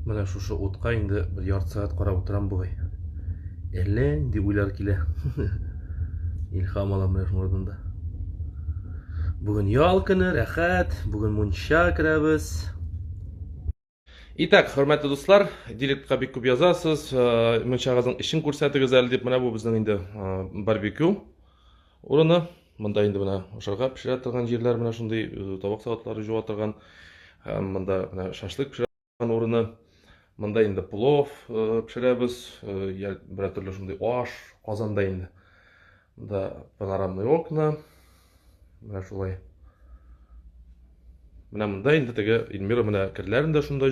Менә шушы утка инде бер ярты сәгать карап утырам бугай. Әллә инде уйлар килә. Илһам алам менә шуның алдында. Бүген ял көне, рәхәт. Бүген мунча керәбез. Итак, хөрмәтле дуслар, директка бик күп язасыз, э, мунчагызның эшен күрсәтегез әле дип, менә бу безнең инде э, барбекю. Урыны, монда инде менә ашарга пешерә торган җирләр, менә шундый табак-савытлары җуа торган, һәм монда менә шашлык пешерә торган урыны. Монда инде плов пешерәбез, я берәр төрле шундый аш, казанда инде. Монда панорамный окна. Менә шулай. Менә монда инде теге Эльмира менә керләрен дә шунда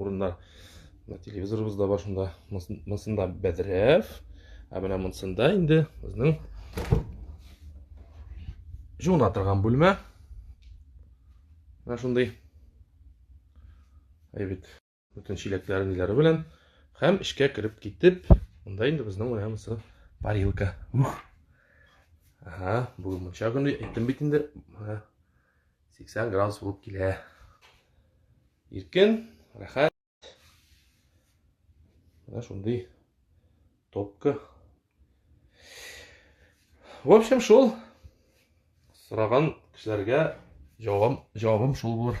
Урында телевизорыбыз да бар шунда. Монсында бәдрәф. Ә менә монсында инде безнең жуына торган бүлмә. Менә шундый. Әйбит. Бүтән чиләкләре ниләре белән һәм эшкә кереп китеп, монда инде безнең менә монсы парилка. Ух. Ага, бүгін мұнша күнде, айттым бит инде. 80 градус булып килә. Иркен, рәхәт. Менә шундый топка. В общем, шул сораган кешеләргә җавабым, җавабым шул булыр.